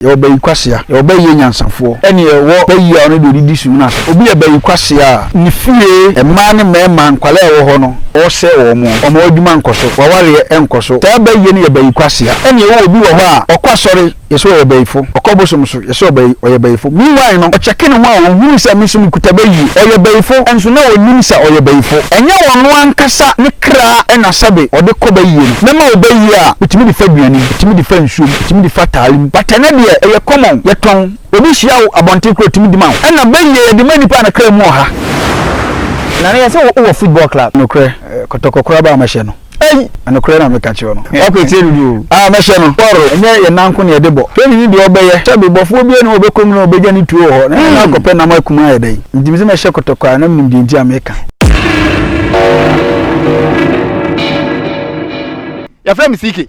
Yɛwɔ bayi kwasea. Yɛwɔ bayi yɛ nyansafoɔ. Ɛne yɛwɔ bayi a ɔno deɛ ɔde di sum no ase. Obi yɛ bayi kwasea a, ne fie, mmaa ne mmarima, nkwadaa a ɛwɔ hɔ no, ɔresɛe wɔn. Ɔma w'adwuma nkɔ so. W'awareɛ nkɔ so. Saa bayie no yɛ bayi kwasea. Ɛne yɛwɔ obi wɔ hɔ a, ɔkɔ asɔre, yɛse ɔyɛ bayifo. Ɔkɔ bosom so, yɛse ɔbayi, ɔyɛ bayifo. Meanwhile no, ɔkyɛke ne ho a, ɔhunu sɛ, me nso mekuta bayie. Ɔyɛ bayifo, nso na ɔnnim sɛ ɔyɛ bayifo. Ɛnyɛ ɔno ankasa ne kra na sɛbe ɔde kɔ bayie no. Mɛma wo bayie a, wotumi de fa aduane, wotumi de fa nsuom. tumi de fa taale mu but ɛnɛ deɛ ɛyɛ common yɛtɔn obi hyia wo abɔnten koraa ɔtumi de ma wo ɛna bɛ yie yɛde ma nipa a ne kra mu wɔ ha. Nana yɛ sɛ wowɔ football club. Nokorɛ kɔtɔkɔ koraa baa mɛhyɛ no ei nokorɛ na meka kyerɛ no. W'akɔ akyire dodo o. Aa mɛhyɛ no bɔɔro ɛnyɛ yɛn nan nko na yɛde bɔ training ne deɛ ɔbɛyɛ sɛbi bɔfoɔ biara ni hɔ ɔbɛkɔ mu na ɔbɛgya ne tuo wɔ hɔ na na akɔpɛ nam akum ayɛ dɛn nti mesɛ mɛhyɛ kɔtɔkɔ a na menim deɛ nti a meka. Yɛfrɛ me CK.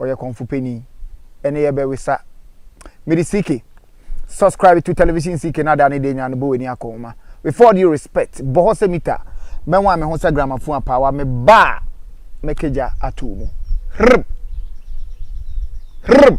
Ɔyɛ kɔmfo panin. Ɛne yɛ bɛ wesa. Mede CK. Subscribe to television CK na ada ne de nya no bɔ w'ani akɔ nwoma. With all due respect, bɔ hɔ sɛ mita. Mɛnwan me ho sɛ gramophone apaawa me ba a mɛkagya ato mu. Hrrb! Hrrb!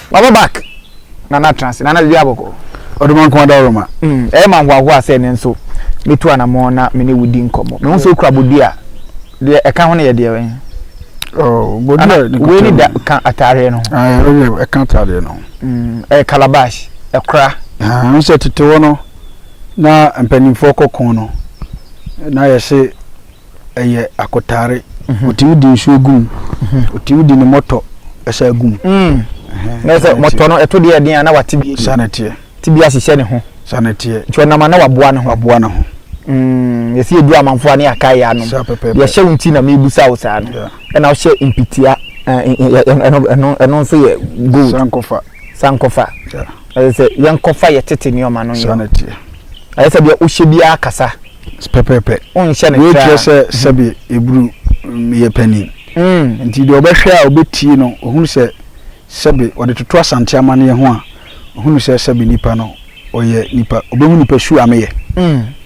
Waba back Nana tra ase Nana dua bɔkɔɔ. Ɔdoma nko ada ɔroma. Ɛyɛ ma nhoahoa sɛ ɛnnɛ nso mɛtu anamɔn na me ne wo di nkɔmmɔ. Mehu sɛ wokura bodua a, deɛ ɛka ho no yɛ deɛ bɛn? Ana wei ne da ka ataareɛ no ho? Ɛka ataareɛ no ho. Ɛyɛ calabash, ɛkora. Ɛhu sɛ tete hɔ no, na mpanimfoɔ kɔko no, na yɛse. ɛyɛ akotare mhm. ɔtumi di nsuo gu mu ɔtumi mhm. di ne mɔtɔ ɛsɛ gu mu mm. na sɛ mɔtɔ no ɛto deɛ ɛden a na wate bi sane teɛ te bi ahyehyɛ ne ho sane teɛ nti ɔnam a na waboa ne ho waboa ne ho mm, yɛsi edu amanfo a ne yɛaka yɛ anom yɛhyɛ wo nti na mebusa wo saa no ɛna wohyɛ mpitia ɛno nso yɛ gold sankɔfa sankɔfa ɛsɛ sɛ yɛnkɔfa yɛ tete nneɛma no yɛ ɛsɛ sɛ deɛ wohyɛ biara kasa pɛpɛɛpɛ. Wei kyerɛ sɛ sɛbe eburu yɛ panin. Nti deɛ ɔbɛhwɛ a ɔbɛtie no, ɔhunu sɛ sɛbe ɔde toto Asante amanneɛ ho a, ɔhunu sɛ sɛbe nipa no ɔyɛ nipa, ɔbɛhu nipa su ameyɛ.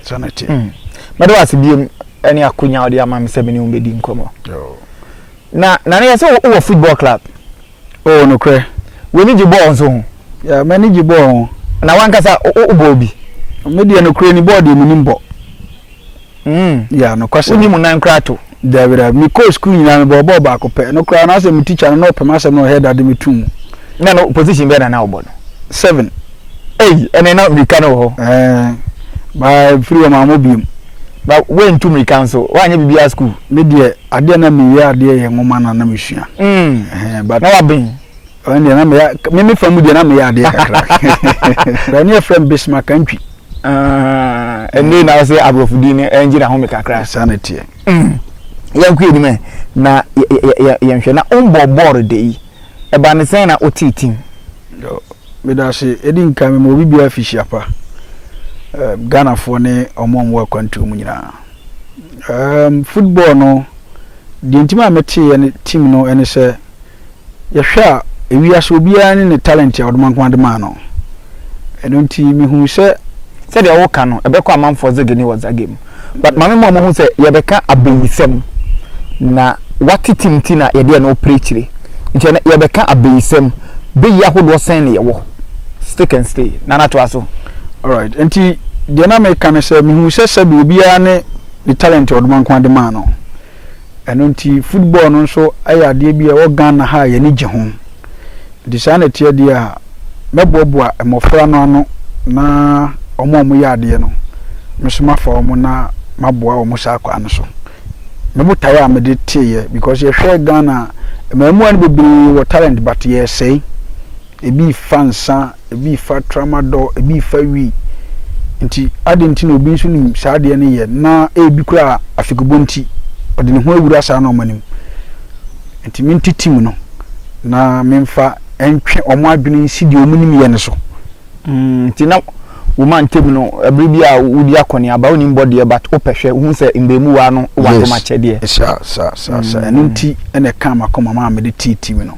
Saa na ɛteɛ. Mɛda wo ase biom ne akonya a wode ama me sɛ me ne wo bɛdi nkɔmmɔ. Na Nana yɛn sɛ wowɔ football club? Oh, nokorɛ. W'ani gye bɔɔl nso ho? Yeah, m'ani gye bɔɔl ho. Na w'ankasa, wobɔɔ bi? Me deɛ, nokorɛ ni, bɔɔl deɛ menim bɔ. Mm. Yeah, nokwasɛm. Wonim nan koraa to? Daabi, daabi. Mekɔɔ sukuu nyinaa, mebɔɔ bɔɔl baako pɛ. Ɛno koraa, na sɛ me tikya no, na ɔpɛ m'asɛm na ɔyɛ dɛ de me to mu. Na ɛno, position bɛn na na wobɔ no? Seven. Ei, ɛnneɛ na mmirika no wɔ hɔ. Ɛɛ, baa firi hɔ, mammɔ bio. Ba, woantu mmirika nso? Woanyɛ biribiara sukuu? Me deɛ, Adeɛ a na meyɛ adeɛ yɛ nwoma na na mesua. Mm. But. Na waben. Ɛne deɛ na meyɛ me me fa mu deɛ na meyɛ adeɛ kakra. Ɛne yɛ fɛn Bismarck Antwi. Ah, ɛne na ɔsɛ aborɔfo din no ɛngye na home kakra. Saa na teɛ. Mm. Yɛn kɔ anim na yɛn hwɛ na ɔmbɔ bɔɔl de yi. Ɛba ne sɛn na ɔtee tim. Meda ase ɛdi nkan mema obi biara fihyia pa. Ghanafoɔ ne ɔmo a ɔmo wɔ akwantuo mu nyinaa. Erm football no deɛ nti maa me teeɛ ne team no ɛne sɛ yɛhwɛ a ewiase obiara ne ne talent a ɔdomankoma de maa no ɛno nti me hunu sɛ Sɛdeɛ wo ka no ɛbɛkɔ amanfoɔ dze gene wɔ dza game but mame mo a mo hu sɛ yɛbɛka abayisɛm na wate team nti na yɛdeɛ no ɔpere akyire nti ɛnɛ yɛbɛka abayisɛm beyi ahodoɔ sɛn ne yɛwɔ stick and stay nana toa so. Alright, nti deɛ na meka ne sɛ mehuu sɛ sɛbi obiara ne ne talent a Ɔdomankoma de maa no. Ɛno nti football no nso yɛ adeɛ bi a ɛwɔ Ghana ha a yɛani gye ho. Nti saa na ɛteɛ deɛ a, mɛboaboa mmɔfra no ano na wɔn a wɔyɛ adeɛ no, me nso mafa wɔn na maboa wɔn saa kwan no so. Me botaeɛ a mede teeɛ because yɛhwɛ Ghana a, mmaamua no bebree wɔ talent but yɛresɛe. Ebi fa nsa, ebi fa tramadol, ebi fa wi. Nti adɛn nti na obi nso nim saa adeɛ no yɛ na ebi koraa afikubɔ nti ɔde ne ho awura saa nneɛma no mu? Nti mente tim no na memfa ntwe wɔn adwene nsi deɛ wɔnim yɛ no so. Mm, nti na wo ma ntam no bere bi a wodi akɔneaba, wonim bɔ deɛ but wopɛ hwɛ, wohu sɛ mmamuwaa no wɔ adomakyɛdeɛ. Yes, saa, saa, saa, saa. Ɛno nti na ɛkaa m'akoma ma mede tee tim no.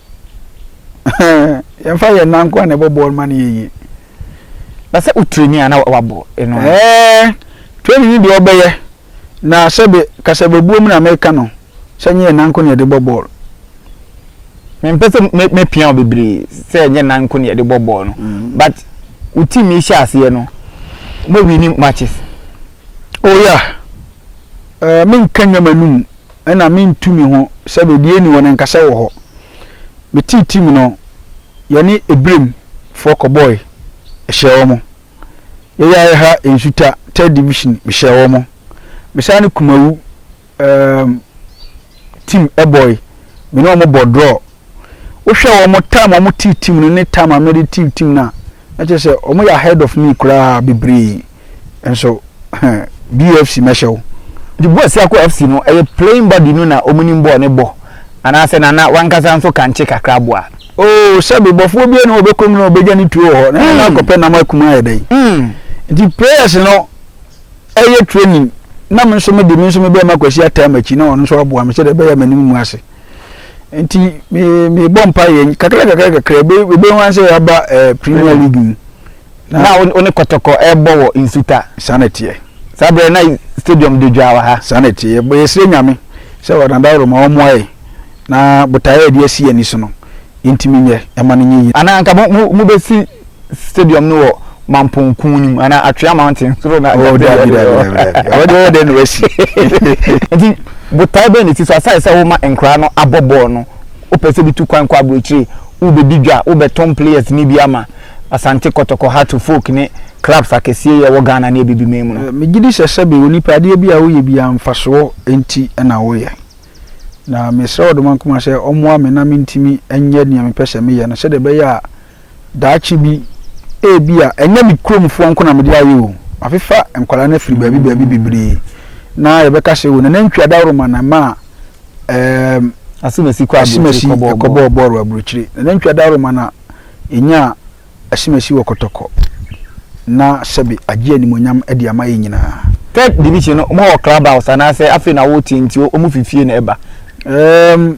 yɛmfa yɛn nan nkoa na ɛbɔ bɔɔl ma no yɛ yie na sɛ wo training a na wabɔ ɛno ɛɛ training deɛ ɔbɛyɛ na sɛbe kasababuo mu na meka no sɛ nyɛ yɛn nan nko na yɛde bɔ bɔɔl mempɛ sɛ mɛpia wo bebree sɛ nyɛ nan nko na yɛde bɔ bɔɔl no mm. but wo team yi hyɛ aseɛ no mowini matches oh yeah uh, menka nnwama no mu na mentu me ho sɛ baabi a ɛnni hɔ no nkasa wɔ hɔ. Metee tirim no, yɛne Ebraim foɔ kɔbɔɔe, ɛhyɛɛ wɔn. Yɛyaa Ɛha Nsuta, Third Division, mehyɛɛ wɔn. Mesan ne Kumawu um, team bɔɔe, me ne wɔn bɔɔ draw. Wohwɛ wɔn time a wɔte team no ne time a me de te team no a, na kyerɛ sɛ wɔyɛ ahead of me koraa bebree. Nso BFC mɛhyɛ wo. Nti Boys Sako FC no ɛyɛ playing body no na wɔn nim bɔɔl no bɔ anaasɛ Nana w'ankasa nso kankye kakra boa? Oh sɛbe, bɔfoɔ biara nni hɔ a ɔbɛkɔ mu na ɔbɛgya ne tuo wɔ hɔ na Nana akɔpɛ nam aku mu ayɛ dɛn? Nti players no ɛyɛ training na me nso me de me nso mebɛma Kwasi ataa m'akyi na ɔno nso aboa me sɛdeɛ ɛbɛyɛ a m'anim ngu ase. nti mebɔ mpa yɛ kakrakakrakra ɛbɛhu an sɛ yɛaba premier league mu na wo ne kɔtɔkɔ ɛbɔ wɔ nsuta saa na ɛteɛ saa berɛ na stadium de dwaa wɔ ha saa na ɛteɛ yɛsrɛ nyame sɛ ɔnadaworo ma ɔmmoa yɛ na botaeɛ a ɛde asi ani so no yɛntumi nyɛ ɛma no nyɛ yie anaa nka mobɛsi stadium no wɔ mampɔn kun no mu anaa atwea mountain soro na oh dabi dabi ɛwɔ deɛ ɔdɛ na wasi nti botae bɛn na ɛsi so asane sɛ woma nkora no abɔ bɔɔl no wopɛ sɛ bi tu kwan kɔ aburokyire wobɛdi dwa wobɛtɔn players ne bi ama asante kɔtɔkɔ hato folk ne clubs akɛseɛ yɛ wɔ ghana ne abibiman mu no megye di sɛ sɛbe onipa adeɛ bi a woyɛ bi a mfasoɔ nti na woyɛ na mesrɛ ɔdomankoma sɛ ɔmmoa me na mentumi nyɛ nea mepɛ sɛ meyɛ no sɛdeɛ ɛbɛyɛ a Daakye bi, ebia ɛnyɛ me kuromfoɔ nko na mede ayɛ o, mafefa nkwadaa no afiri baabi baabi bebree, na yɛbɛka sɛ o nanantwi adaworoma na ɛmaa ɛɛm, Asimasi kɔ aburokyire Asimasi kɔbɔɔ kɔbɔɔ bɔɔl. bɔɔl wɔ aburokyire. Nanantwi adaworoma na ɛnyaa Asimasi wɔ kɔtɔkɔ, na sɛbe agye animuonyam de ama yɛn nyinaa. Third division no, wɔn wɔ club house anaasɛ afei na wɔretie nti wɔn fi fie na ɛba? Ɛɛm.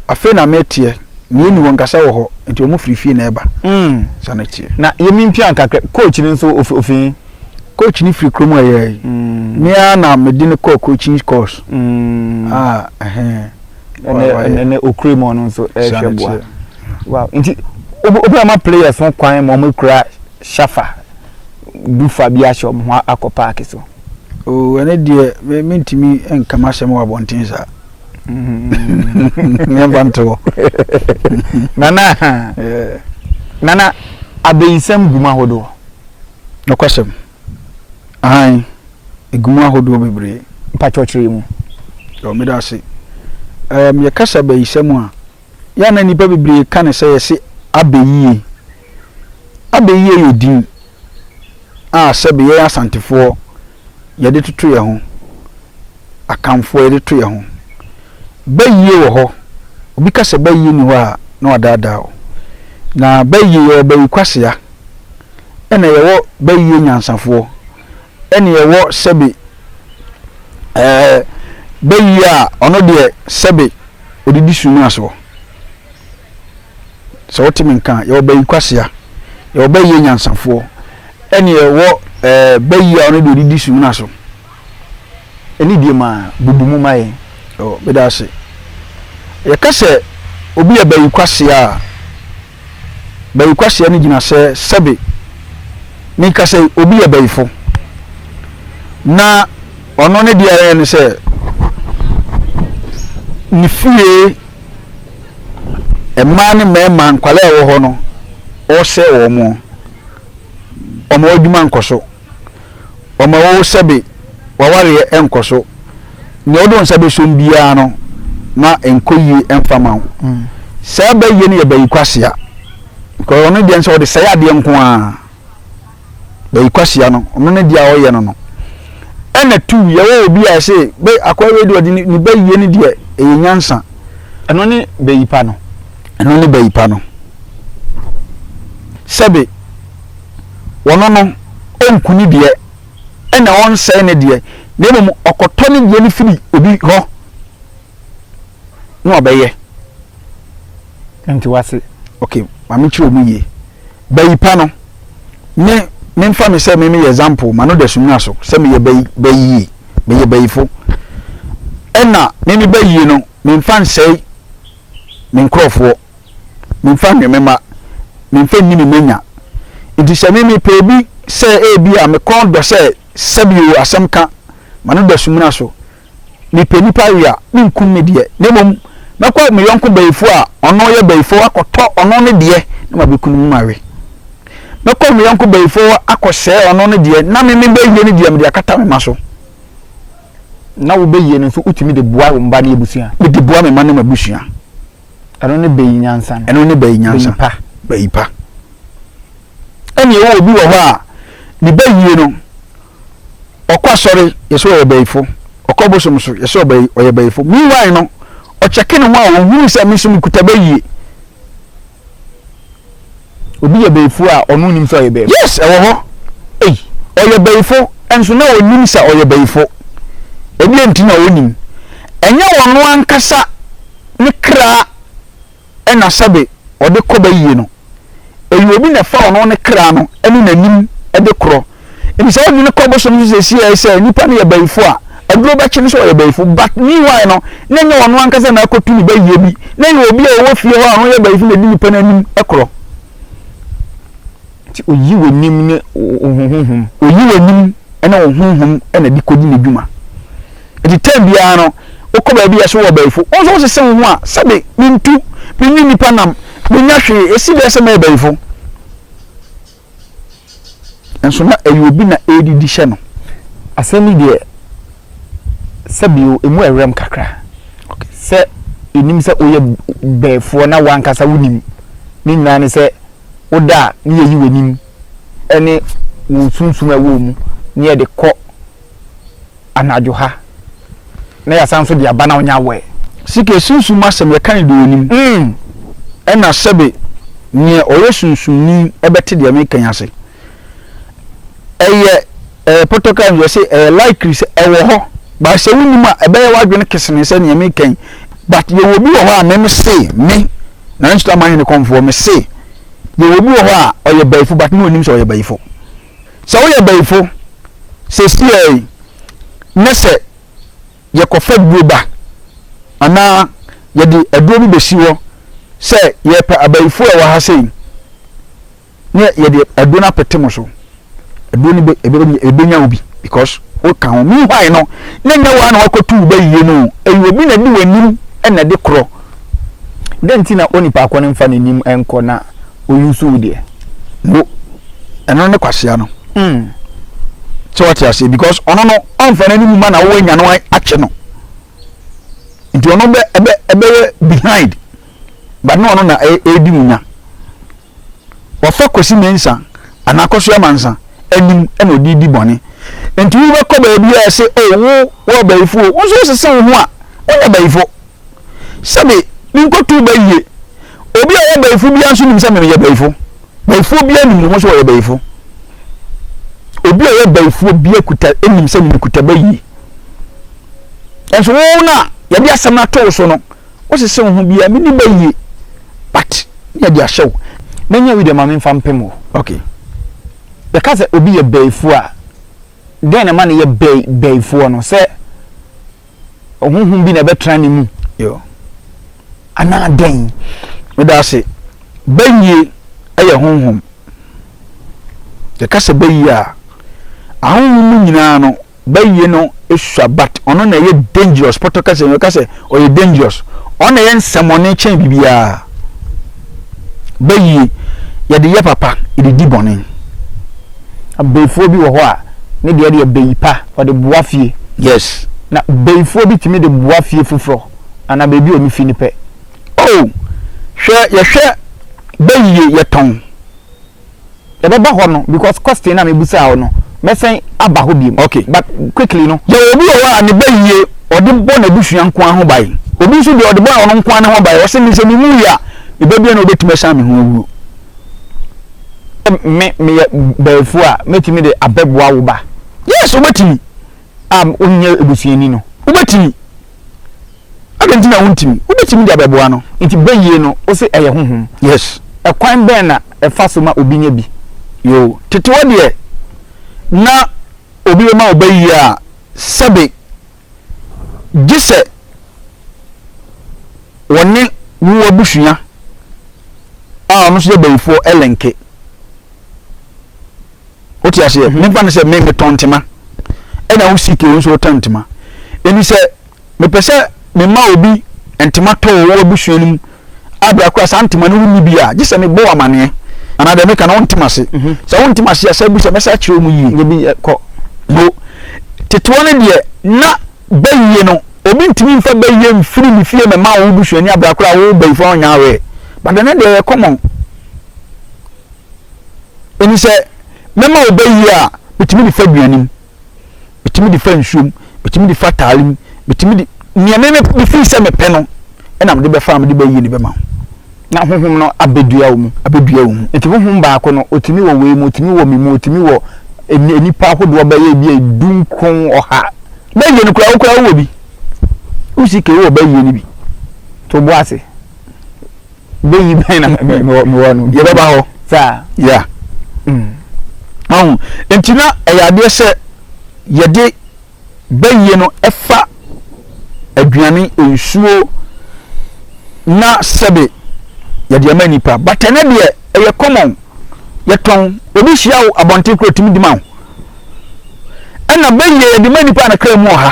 Afei na meteɛ, na yɛnni hɔ, nkasa wɔ hɔ, nti wɔn firi fie na ɛreba. Mm. Sa no teɛ. Na yɛmi mpia nkakra, coach no nso ofi ofi he? Coach no firi kurom a ɛyɛ yi. Mm. Me ara na mede no kɔɔ coaching course. Mm. Ah, ɛhɛn. Ɛnɛ ɛnɛ okure mu ɔno nso ɛrehwɛ boa. Wow. Nti obi ama players ho kwan ma wɔn kura shafa bufa bi ahyɛ wɔn ho akɔ paaki so. Oh, ɛne deɛ mentumi nka m'asɛm wɔ abɔnten saa. yɛmfa nto hɔ nana nana abeyinsɛm gu mu ahodoɔ nokwasɛm ahan ɛgu mu ahodoɔ bebree mpakyɛkyerɛ mu yɛ ɔmeda ase um, yɛkasa abayisɛm a yɛ na nnipa bebree ka ne sɛ yɛse abɛyie abɛyie yɛ din a sɛbe yɛn asantefoɔ yɛde toto yɛn ho, Akanfoɔ yɛde to yɛn ho. Bayie wɔ hɔ, obi ka sɛ bayie nni hɔ a, na wadaadaa wo. Na bayie, yɛwɔ bayi kwasea, ɛna yɛwɔ bayie nyansafoɔ, ɛna yɛwɔ sɛbe ɛɛ bayie a ɔno deɛ sɛbe ɔdidi su no asoɔ. Sɛ wote me nka a, yɛwɔ bayi kwasea, yɛwɔ bayi anyansafoɔ, ɛne yɛwɔ eh, bayi a ɔno deɛ ɔdidi sumina so. Ɛne die ma bubu mu ma yɛn. Oh, meda ase. Yɛka sɛ obi yɛ bayi kwasea a, bayi kwasea no gyina sɛ sɛbe meka sɛ obi yɛ bayifo. Na ɔno ne deɛ ɛyɛ ne sɛ ne fie Mmaa ne mmarima, nkwadaa a wɔwɔ hɔ no, wɔresɛe wɔn. Wɔn adwuma nkɔ so. Wɔn a wɔwɔ sɛbe w'awareɛ nkɔ so. Nea wode wo nsa bɛsom biara no, ma ɛnkɔ yie mfa ma wo. Mm. Saa bɛyie no yɛ bayi kwasea. Because ɔno deɛ sɛ ɔde sɛe adeɛ nko ara. bɛyi kwasia no ɔno ne deɛ a ɔyɛ no no ɛna tu yɛwɔ obi a ɛsɛ bɛ akɔyɛ wei deɛ ɔde ne ne bɛyie ne deɛ ɛyɛ nyansa ɛno ne bɛyi pa no ɛno ne bɛyi pa no sɛbe wɔno no ɔnku ne deɛ ɛna ɔnsɛe ne deɛ na mmom ɔkɔtɔ ne deɛ no firi obi hɔ na ɔbɛyɛ nti wase ok maame kyerɛ ɔmu yie bayi pa no me memfa me sɛ me meyɛ example ma no da sumina so sɛ meyɛ bayi bayi yie meyɛ bayifo ɛna me me bayie no memfa nsɛe me nkurɔfoɔ memfa nwe me ma memfa nni me manya nti sɛ me mepɛ obi sɛ ebi a mekɔn dɔ sɛ sɛbio asɛm ka ma no da sumina so mepɛ nnipa we a, menkum me deɛ, na mmom mɛkɔ me yɔnko bayifoɔ a ɔno yɛ bayifoɔ hɔ akɔtɔ ɔno ne deɛ na mabɛkunu mu mawe. Mɛkɔ me yɔnko bayifoɔ hɔ akɔsɛe ɔno ne deɛ na me mebɛwie ne deɛ mede akata me mma so. Na wobɛyie no nso wotumi de boa wo mma ne abusua. Mede boa me mma ne m'abusua. Ɛno ne bayi nyansa no. Ɛno ne bayi nyansa. Bayi pa. Bayi pa. Ɛnneɛ wɔ obi wɔ hɔ a ne bayie no ɔkɔ asɔre yɛsɛ ɔyɛ bayifo ɔkɔ bosom so yɛsɛ ɔbɛ ɔyɛ bayifo meanwhile no ɔkyɛke ne ho a ɔhunu sɛ me nso mekuta bɛ yie obi yɛ bayifo a ɔno nim sɛ ɔyɛ bayifo yes ɛwɔ hɔ ei ɔyɛ bayifo nso na ɔnim sɛ ɔyɛ bayifo ɛdeɛ nti na ɔnim ɛnyɛ ɔno ankasa ne kra na sɛbe ɔde kɔ bayie no, ɛyɛ obi na ɛfa ɔno ne kra no ne n'anim de korɔ. Nti saa adwene kɔ bosom nso sɛsiɛ sɛ nipa no yɛ bayifo a, aduro bɛkye no sɛ ɔyɛ bayifo. But meanwhile no, na ɛnyɛ ɔno ankasa na akɔtu ne bayie bi, na ɛyɛ obi a ɔwɔ fie hɔ a ɔno yɛ bayifo na ɛdi nipa no anim korɔ. Nti oyi w'anim ne wo honhom. Oyi w'anim ne wo honhom na de kɔdi n'adwuma. Nti tɛm biara no, wokɔ baabi a ɛso wɔ ɔbaifo, wo nso wosese wo ho a, sɛbe mentu, menni nnipa nam, mennya hwee, ɛsi dɛn sɛ mɛyɛ baifo? Nso na ɛyɛ obi na ɛredidi hyɛ no. Asɛm yi deɛ, sɛbe o, ɛmu ɛwerɛm kakra. Sɛ yɛnim sɛ woyɛ baifo na wo ankasa wonim ne nyinaa ne sɛ, wo dɔ a ne yɛ yi w'anim ne wo sunsum a ɛwɔ mu ne yɛ de kɔ anadwo ha na yɛ asan nso de aba na wo nya awɛ. Sika yɛ sunsum mu asɛm yɛ ka ne de w'anim ɛna sɛbe neɛ ɔyɛ sunsumni bɛte deɛ me reka yi ase. Ɛyɛ. Ɛyɛ pɔtɔkam yi, ɔse ɛyɛ likely sɛ ɛwɔ hɔ but sɛ wo nim a ɛbɛyɛ w'adwene kesene sɛ nea meka yi but yɛwɔ obi wɔ hɔ a me me se me Nana Nsuto Amanhene kɔmfoɔ me se yɛwɔ obi wɔ hɔ a ɔyɛ bayifo but ne ɔnim sɛ ɔyɛ bayifo sɛ woyɛ bayifo sesiei ne sɛ yɛkɔ fa duro ba anaa yɛde aduro bi bɛsi hɔ sɛ yɛpɛ abayifo a ɛwɔ ha sei ne yɛde aduro no apete mo so aduro no bɛ ebe ebenya obi because woka ho meanwhile no ne nyɛ wɔn na wakɔtu wo bɛyie no ɛyɛ obi na di w'anim ɛna ɛde korɔ dɛn nti na onipa akɔ no mfa n'anim ɛnkɔ na oyi nso wo deɛ no ɛno ne kwasea no mm. sɛ wate aseɛ because ɔno no ɔmfa n'anim ma na wowɔ anya no akye no nti ɔno bɛ ɛbɛ ɛbɛyɛ behind but na ɔno na ɛredi e, e mu nya Wɔfa Kwesi Mensah anaa Akosua Mansa anim na ɔde redi bɔne. Nti wobɛkɔ baabi a ɛse o wo wo abayifo o, wo nso wosese wo ho a, wonyɛ bayifo. Sɛbe menkɔtoo ba yie, obi a ɔyɛ bayifo biara nso nim sɛ me meyɛ bayifo. Bayifoɔ biara nim ne ho sɛ ɔyɛ bayifo. Obi a ɔyɛ bayifoɔ biara kuta nim sɛ ne mekuta ba yie. Nanso wo no a yɛde asɛm no ato wo so no, Wosese wo ho biaa me ni bɛyie but me yɛde ahyɛ wo mɛnya wi deɛ ma menfa mpem wo. Ok. Yɛka sɛ obi yɛ bɛɛfuo a, dɛn na ɛma no yɛ bɛɛ bɛɛfuɔ no? Sɛ honhom bi na ɛbɛtra ne mu? Yo. Anaa dɛn? Meda ase. Bɛyie yɛ honhom. Yɛka sɛ bɛyie a, ahonhom no nyinaa no, Bɛyɛ no sua but ɔno na ɛyɛ dangerous pɔtɔ kɛse yɛka sɛ ɔyɛ dangerous ɔno na ɛyɛ nsɛmɔne kyɛn biribiara bɛyie yɛde yɛ papa yɛde di bɔne abɛyifoɔ bi wɔ hɔ a ne deɛ deɛ bɛyi pa ɔde boa fie yes na bɛyifoɔ bi tumi de boa fie foforɔ anaa baabi a ɔno fi no pɛ oh hwɛ yɛhwɛ bɛyie yɛtɔn. Yɛbɛba hɔ no because question no a mebusaa wo no mɛsɛn aba hɔ biom ok but quickly no. Yɛwɔ obi wɔ hɔ a ne bayie ɔde bɔ n'abusua nko ara ho ban. Obi nso deɛ ɔde bɔ ɔno nko ara ne ho ban. Ɔse me sɛ me wuiɛ a me ba biara na ɔbɛtumi asiane me ho awuo. Sɛ me meyɛ baafuo a mɛtumi de abɛboa wo ba? Yes wobɛtumi a wonyɛ abusuani no wobɛtumi. Adɛn nti na wuntumi? Wubetumi de abɛboa no. Enti bayie no, wose ɛyɛ honhom? Yes. Ɛkwan bɛn na ɛfa so ma obi nya bi? Yoo, tete hɔ deɛ, na obi bɛma wo bayie a, sɛbe gye sɛ wɔne wo abusua a ɔno nso yɛ bayifoɔ linke. o ti aseɛ mhm. mefa no sɛ me metɔn ntoma ɛna wo sike wo nso wotɔn ntoma ɛni sɛ mepɛ sɛ mema obi ntoma tɔ wɔ wɔ abusua no mu abira kora saa ntoma no wonni bi a gye sɛ mebɔ wɔ amaneɛ anaa deɛ meka no wontem ase mhm. sɛ wontem ase a sɛ bu sɛ mɛsa kyerɛ mu yie bi eh, kɔ no tetewa no deɛ na bɛyie no obi ntumi mfa bɛyie mfiri ne fie mɛma wo busuani abira kora wo bɛyifoɔ ɔnya awɛ but ɛnɛ deɛ yɛ kɔmɔn Enti sɛ mɛma wo bɛ yie a, metumi de fa aduanem, metumi de fa nsuom, metumi de fa taalem, metumi de nea me mefiri sɛ mepɛ no ɛna mede bɛfa a mede bɛ yie no bɛma wo. Na honhom no abɛdua wo mu, abɛdua wo mu. Enti honhom baako no, ɔtumi wɔ wei mu, ɔtumi wɔ me mu, ɔtumi wɔ nnipa ahodoɔ bɛyɛ bi a du nkron ɔha. Bɛ yie no koraa, wo koraa wowɔ bi. Wosi kee wowɔ bɛ yie no bi. To bo ase. bɛyi bɛn na mewɔ mewɔ no yɛbɛba hɔ saa ya mm. ɔho nti na ɛyɛ adeɛ sɛ yɛde bɛyie no ɛfa aduane nsuo na sɛbe yɛde ama nipa but ɛnɛ deɛ ɛyɛ common yɛtɔn obi hyia wo abɔnten koro tumi di ma wo ɛna bɛyie yɛde ma nipa na kra mu ɔha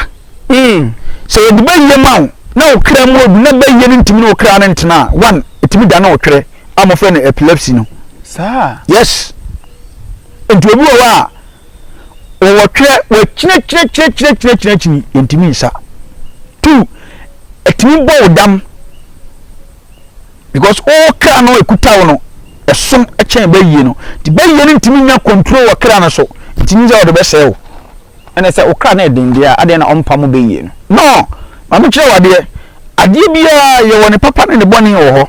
Mm, sɛ wɔde bayie ma wo na wo kra mu ɔdu na bayie no ntumi ne wo kra no ntena a, one, ɛtumi dane wo twerɛ a wɔfrɛ no epilepsy no. Saa? Yes. Nti obi wɔ hɔ a, wɔwɔ twerɛ, wɔakyinakyinakyinakyinakyinakyini, yɛntumi nsa. Two, ɛtumi bɔ wo dam. because wo kra no ɛkuta wo no ɛsom kyɛn bɛyie no nti bɛyie no ntumi nya control wɔ kra no so nti ne sɛ ɔde bɛsɛe wo ɛne sɛ wo kra no ɛden deɛ a adeɛ na ɔmpa mu bɛyie no no ma me kyerɛ wadeɛ adeɛ biara yɛwɔ ne papa ne ne bɔne wɔ hɔ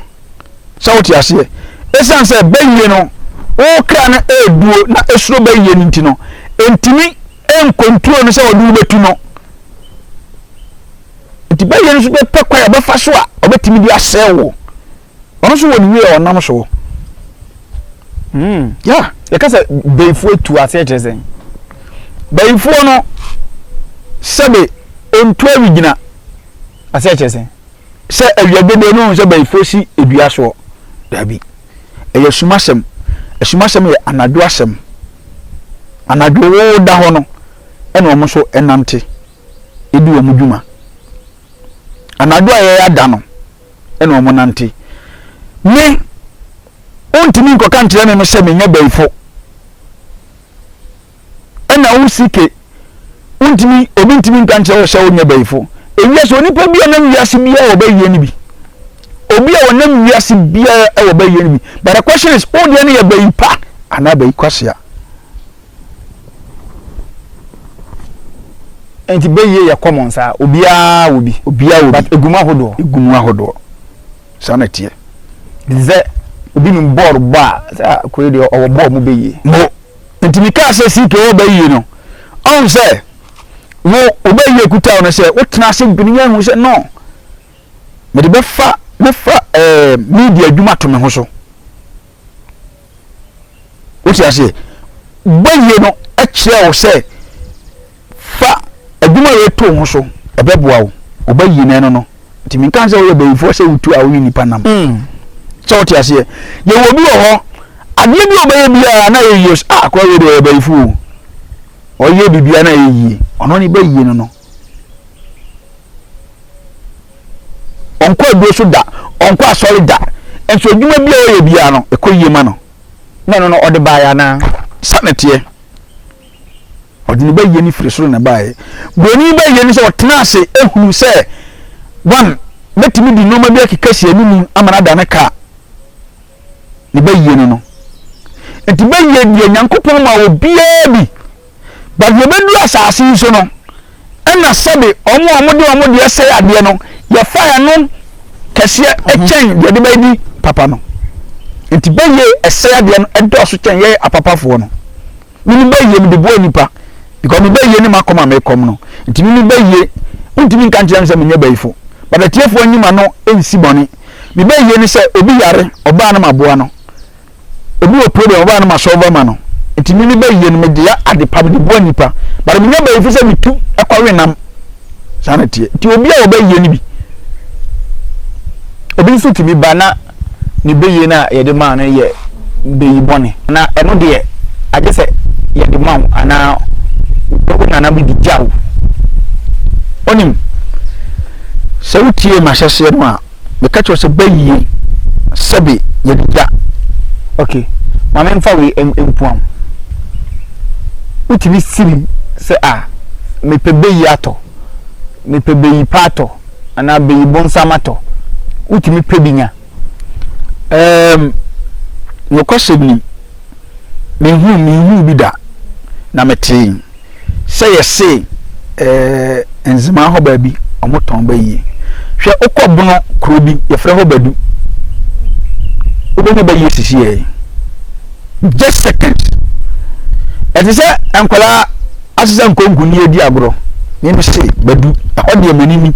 sɛ wote aseɛ ɛsiane sɛ bɛyie no wo kra no ɛduo na ɛsuro bɛyie no nti no ɛntumi ɛnkontrol no sɛ ɔde wobɛtu no Enti bɛyɛ nso bɛpɛ kwan a ɔbɛfa so a ɔbɛtumi de asɛe wo. Ɔno nso wɔ ne wie a ɔnam so. Mm, yeah. Yɛka sɛ bayifoɔ atu aseɛ kyerɛ sɛn? Bayifoɔ no sɛbe ɔntu awi gyina aseɛ kyerɛ sɛn? Sɛ awia dodoɔ no sɛ bayifoɔ si dua soɔ. Daabi. Ɛyɛ sumasɛm. Asumasɛm yɛ anadwo asɛm. Anadwo wo da hɔ no ɛna ɔmo nso ɛnante. di wɔn dwuma. Anadwo a ɛyɛ ada no na wɔnante. Me, wontumi nkɔka nkyerɛ me me sɛ menyɛ bɛyifo. Ɛna wo sike, wontumi, obi ntumi nka nkyerɛ wo sɛ wonyɛ bɛyifo. Ewiase, onipa bi a ɔnam wiase biara wɔ bɛyie no bi. Obi a ɔnam wiase biara wɔ bɛyie no bi. But the question is, wo deɛ no yɛ bɛyi pa anaa bɛyi kwasea? Nti bɛyie yɛ common saa? Obiara wɔ bi. Obiara wɔ bi. But egu mu ahodoɔ. Egu mu ahodoɔ. Saa na ɛteɛ. Te sɛ obi nim bɔɔl bɔ a, sɛ ah koi deɛ ɔwɔ bɔɔl mu bɛyie. Mo. Nti me kaa sɛ CK wɔ bɛyie no, ɔhu sɛ wo wo bɛyie kuta wo no sɛ wo tena ase dwene yie hu sɛ no, mede bɛfa mɛfa ɛɛ media adwuma ato me ho so. wote aseɛ bɔyie no kyerɛ wo sɛ fa adwuma a yɛto ho so ɛbɛboa wo wobɛyie no ɛno no nti menka sɛ woyɛ bayifoɔ sɛ wotu a wone nnipa nam mm. sɛ wote aseɛ yɛwɔ bi wɔ hɔ adeɛ bi ɔbɛyɛ biara na yɛyie a akora wei deɛ ɔyɛ bayifoɔ ɔyɛ biribiara na yɛyie ɔno ne bɛyie no no Ɔnkɔ aduro so da, ɔnkɔ asɔre da, nso adwuma bi a ɔyɛ biara no, ɛkɔ yie ma no. Na ɛno no, ɔde baeɛ anaa? Sa na teɛ. Ɔde ne bayie no firi soro na ɛbaeɛ. Buroni bayie no sɛ ɔtena ase hunu sɛ one, mɛtumi de nneɛma bi akeka si anim ama no ada ne ka ne bayie no no. Nti bayie deɛ Nyankopɔn ma obiara bi. But yɛbɛduru asase yi so no, ɛna sɛbe wɔn a wɔde wɔn deɛ sɛe adeɛ no, yɛfa ɛno kɛseɛ kyɛn deɛ de bɛdi papa no. Nti bɛyie ɛsɛe adeɛ no ɛdɔɔso kyɛn yɛyɛ apapafoɔ no. Mimi bɛyie mede boa nipa, because me bɛyie ne m'akɔm a mekɔm no. Nti mimi bɛyie, wontumi nka nkyerɛ me sɛ menyɛ bayifo. But atiefoɔ nyi m'ano nsi bɔne. Me bɛyie ne sɛ obi yare, ɔbaa no maboa no. ebi wɔ problem ɔbaa no ma solve ma no nti mimi bɛ yie no me de yɛ ade pa me de boa nipa but me nya bɛ efi sɛ me tu ɛkɔ we nam saa na teɛ nti obi a ɔbɛ yie no bi obi nso tumi ba na ne bɛ yie no a yɛde maa no yɛ bɛyi bɔne na ɛno deɛ agye sɛ yɛde ma wo anaa wo nana bi de gya wo onim sɛ wotie mahyɛseɛ no a Meka kyerɛ wo sɛ bɛ yie sɛbe yɛde gya. Ok, ma me nfa wei mpua wo. Wotumi siri sɛ ah, mepɛ bɛ yi atɔ, mepɛ bɛ yi pa atɔ, anaa bɛ yi bonsam atɔ. Wotumi pɛ bi nya. Ɛɛm, nokwasɛm ni, menhuu, menhuu bi da, na metee. sɛ yɛse ɛɛ nzemaa hɔ baabi ɔmo tɔn ba yie hwɛ wokɔ bono kuro bi yɛfrɛ hɔ badu wobɛnya ba yie sisi yɛ just seconds ɛte sɛ nkwadaa asesa nkonko ne yɛdi agorɔ ne me se badu ɛhɔ deɛ m'ani ni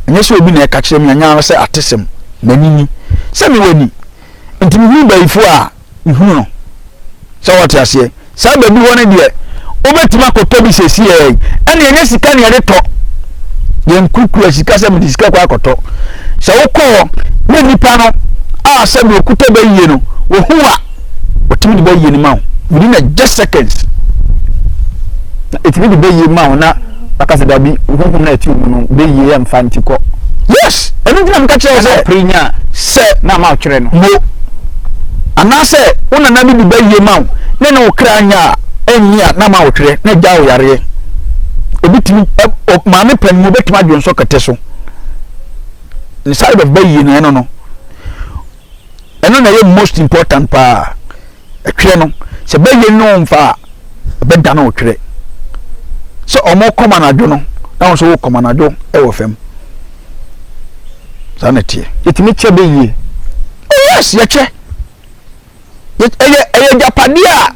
ɛnyɛ sɛ obi na ɛka kyerɛ me anya sɛ atesɛm m'ani ni sɛ mewɔ ni nti mehunu bayifoɔ a hunu no. Sɛ wɔte aseɛ? Saa baabi hɔ no deɛ, wobɛtumi akɔtɔ bi sɛsiɛ yi. Ɛne ɛnyɛ sika ne yɛde tɔ. Yɛn kukura sika sɛ mede sika kɔ akɔtɔ. Sɛ wokɔ hɔ ne nnipa no a sɛ deɛ ɔkuta bɛ yie no, wɔhu a, wɔtumi de bɛ yie no ma wo. Within a just seconds. Na ɛtumi de bɛ yie ma wo na baka sɛ dabi huhum na ɛte mu no bɛyie yɛ mfa nti kɔ yes ɛno ntina meka kyerɛ sɛ pere nya sɛ na ma ɔtwerɛ no mo anaasɛ wo nana bi bi bɛyie ma wo ne ne wo kra nya a ɛnyi a na ma ɔtwerɛ na gya wo yareɛ obi tumi maame pɛ no mu obɛtumi adwonsɔ kɛtɛ so ne side of bɛyie no ɛno no Ɛno na ɛyɛ most important paa. Ɛtwerɛ no sɛ bɛyɛ no mfa a ɛbɛda no ɔtwerɛ. Sɛ ɔmo kɔm anadwo no na wo nso wo kɔm anadwo ɛwɔ fam. Saa na ɛteɛ. Yɛtumi kyɛ bɛ yie. Oh yes yɛkyɛ. Yɛ ɛyɛ ɛyɛ gyapadeɛ a.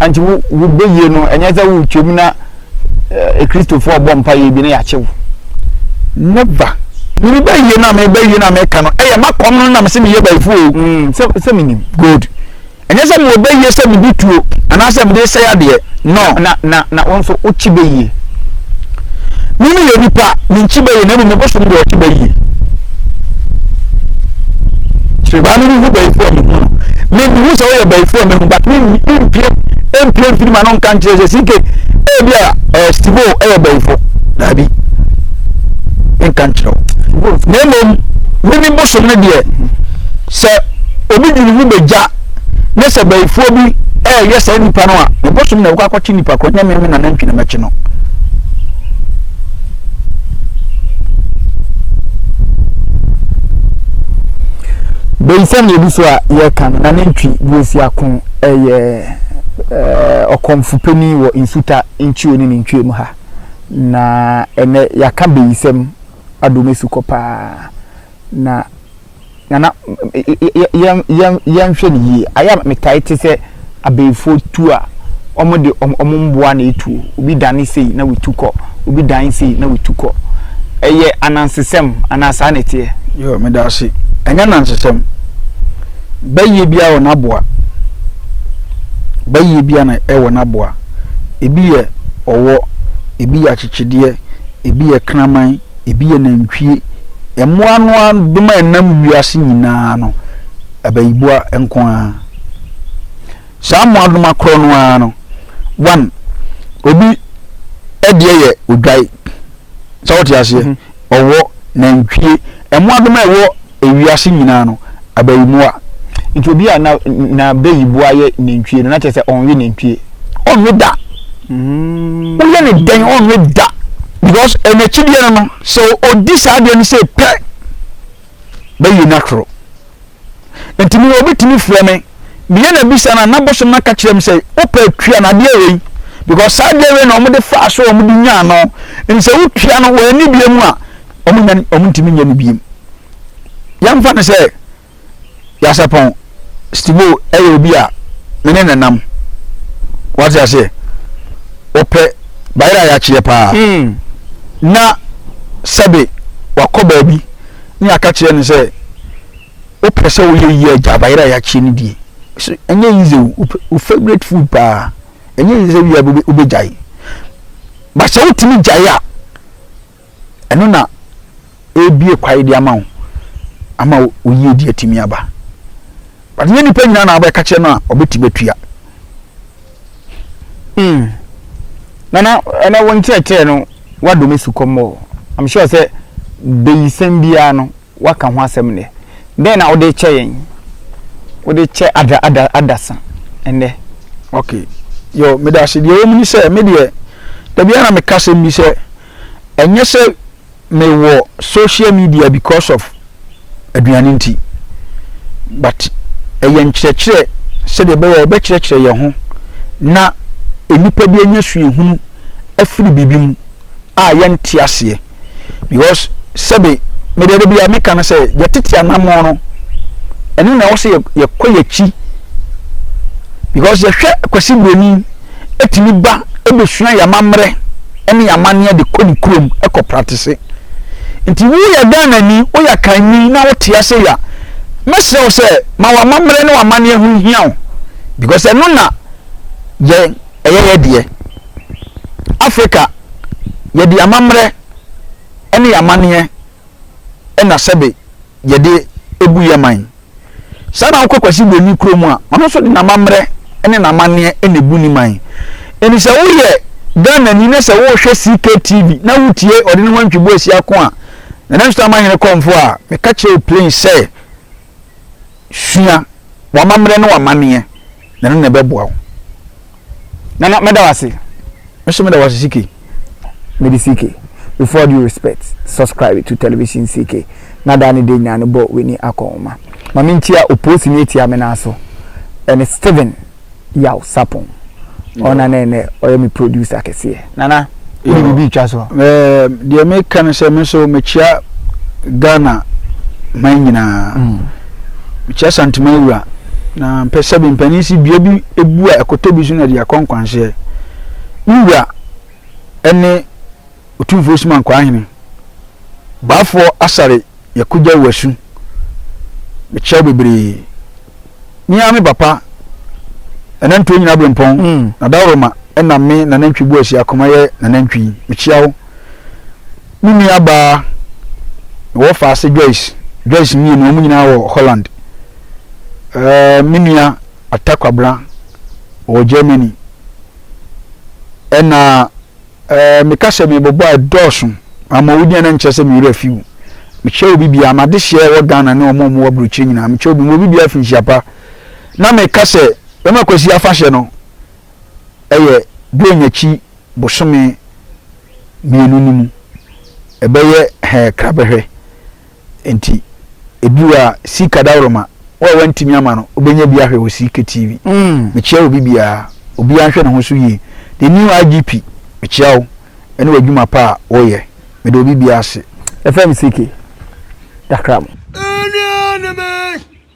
Nti wo wo beyie no ɛnyɛ sɛ wo twam na eh, kristofo ɔbɔ mpa yɛ bi na yɛakye wo never mene bɛyie no a mebɛyie no a meka no ɛyɛ makɔm no nam sɛ meyɛ bayifo o mm, sɛ sɛ menim good ɛnyɛ sɛ mewɔ bɛyie sɛ medi tuo anaasɛ mede sɛ adeɛ no na na na wo nso wokye bɛyie Me ne yɛ nipa me nkyi bɛyɛ na mmom ɛbɔ so no deɛ ɔkye bɛ yie kyerɛbaa no ho bɛyifoɔ a mehu no mehu sɛ woyɛ bɛyifoɔ a mehu but mempie mpie mfiri ma no nka nkyerɛ sɛ sike ebi a ɛyɛ stibo ɛyɛ bɛyifo daabi nka nkyerɛ wo na mmom menim bosom no deɛ sɛ obi dwene mu bɛgya ne sɛ bayifoɔ bi ɛreyɛ saa nipa no a ne bosom na ɛkɔ akɔkye nipa kɔ nyɛ meme na nantwi na mɛkye no bayifoɔ na ebi so a yɛka no na nantwi bi esi ako ɛyɛ ɛɛ ɔkɔmfo panyin wɔ nsuta nkyio ne ne ntwie mu ha na ɛnɛ yɛaka bayisɛm adomesu kɔ paa na Nana, yɛnhwɛ no yie. Ayɛ a metae te sɛ abayifoɔ tuo a wɔde wɔn mmoa na ɛtuo. Obi dane sei na wɔtu kɔ, obi dan sei na wɔtu kɔ. Ɛyɛ anansesɛm anaa saa na ɛteɛ? Yoo, meda ase. Ɛnyɛ anansesɛm. Bayie biara wɔ n'aboa. Bayie biara na ɛwɔ n'aboa. Ebi yɛ ɔwɔ, ebi yɛ akyekyedeɛ, ebi yɛ kraman. Ebi yɛ nantwie. Mmoa no ara dom a ɛnam wiase nyinaa no, abayiboa nko ara. Saa mmoadoma korɔ no ara no, one, obi deɛ yɛ odwae. Sɛ wote aseɛ? Ɔwɔ, nantwie, mmoadoma a ɛwɔ. ewiase nyinaa no, abayiboa. Nti obi a na n'abayiboa yɛ nantwie no, na kyerɛ sɛ ɔnwe nantwie. Ɔnwe da. Mm. Woyɛ ne dɛn ɔnwe da. Because n'akyideɛ no no, sɛ ɔdi saa adeɛ no sɛ pɛ, bɛyi no atoro. Nti me obi tumi frɛ me, meyɛ na bisa no a, na bosom no aka kyerɛ me sɛ, wopɛ tua no adeɛ wei. Because saa adeɛ wei na wɔde faa so a wɔde nyaa no. Nti sɛ wotua no, wɔanni bie mu a, Wɔnya no, wɔntumi nyɛ no bio. Yɛmfa no sɛ Yasapɔn Stivo yɛ obi a me ne no nam. Wate aseɛ? Ɔpɛ bayerɛ a yɛakyeɛ paa. Na sɛbe wakɔ baabi ne yɛaka kyerɛ no sɛ, Wopɛ sɛ woyɛ yie a, gyaa bayerɛ a yɛakyeɛ no die. So ɛnyɛ easy o, wo, wo favourite food paa. Ɛnyɛ easy sɛ wia bi wobɛgyae. But sɛ wotumi gyae a, ɛno na ɛrebue kwae de ama wo ama wo yie de atumi aba but nyɛ nipa nyinaa na abɛka kyerɛ no a ɔbɛti bɛtua mm. nana ɛnɛ wo nkyerɛkyerɛ no wadɔ me sukɔmmɔ i'm sure sɛ bɛyisɛm biara no Woaka ho asɛm nnɛ. Dɛn na wode rekyɛ yɛn? Wode rekyɛ ada, ada, adasa nnɛ. Ok, Yoh, meda ase. Deɛ ɛwɔ mu ne sɛ, me deɛ, da biara na meka asɛm bi sɛ, ɛnyɛ sɛ mewɔ social media because of aduane nti, but ɛyɛ nkyerɛkyerɛ sɛdeɛ ɛbɛyɛ a yɛbɛkyerɛkyerɛ yɛn ho na nnipa bi anya suahunu afiri biribi mu a yɛnte aseɛ. because sɛbe mede de bia meka no sɛ yɛtete anammɔn no ɛno na ɛwɔ sɛ yɛkɔ yɛakyi because yɛhwɛ Kwasi Buroni ɛtumi ba ɛbɛsua yɛamammerɛ ɛne yɛamanneɛ de kɔ ne kurom ɛkɔ pratese nti woyɛ Ghana ni woyɛ akanni na wote ase ya mɛsrɛ wo sɛ ma w'amammerɛ ne w'amanneɛ ho hia wo because ɛno na yɛn ɛyɛ yɛ deɛ. Afrika, yɛde amammerɛ ne yɛn amanneɛ na sɛbe yɛde bu yɛn man. Saa na wokɔ Kwasi Broni kurom a, ɔno nso de n'amammerɛ ne n'amanneɛ na ɛbu ne man. Ɛnti sɛ woyɛ Ghanani na sɛ wohwɛ CKTV na wotie ɔde ne ho antwi bo asia ko a, Nana Nsuto Amahene Kɔmfo a, meka kyerɛ wo plain sɛ, Sua w'amammerɛ ne w'amanneɛ, na ɛno na ɛbɛboa wo. Nana, mɛda wo ase. Me so meda wo ase CK. Mede CK, with all due respect, subscribe to television CK na daa ne da nyinaa no bɔ w'ani akɔnhoma. Ma menkyia opoosini atia me nan so, ɛne Steven. Yaw Sapong ɔna ne nɛ ɔyɛ me producer kɛseɛ. Nana wo de biribi retwa so. Deɛ meka ne sɛ me nso mekyea Ghana man nyinaa. Mekyea Santeman wura na mpɛ sɛ me mpanin si dua bi bu a ɛkɔtɔ bi so na ɛde akɔ nkwanhyɛ. Me wura ne Otumfoɔ Osuman Kwahene, Baafoɔ Asare. Yɛakogya wo asu. Mekyerɛ wo bebree. Me ara me papa, Nanantuo nyina berempɔn, Nadaworoma na me Nanantwi Boasi Akoma yɛ Nanantwi. Mekyea wo. Me nua baa, mewɔ Faase Joyce, Joyce mmienu, wɔn nyinaa wɔ Holland. Ɛɛ, me nua Atta Kwabena, ɔwɔ Germany. Ɛna. Ɛɛ, meka sɛ merebɛbɔ a, ɛdɔɔso. Ama wo din a na nkyerɛ sɛ me werɛ afi wo. Mekyɛ obi biara, m'adehyeɛ a ɛwɔ Ghana ne wɔn a wɔwɔ aburokyire nyinaa, mekyɛ obi, mewɔ biribiara fi nhyia pa. Na meka sɛ bɛma Kwasi afahyɛ no yɛ Dwonn akyi bosome mmienu no mu. Ɛbɛyɛ hɛɛ krabɛhwɛ. Enti ebi wɔ a sii kadawroma wo a wantumi ama no wobɛnya bi ahwɛ wɔ sii ketii bi. Mekyea obi biara. Obiara nhwɛ ne ho so yie. The new IGP mekyea wo ɛne w'adwuma pa a woyɛ. Meda obi biara ase. Yɛfrɛ me CK. Dakram. Anuanom ee!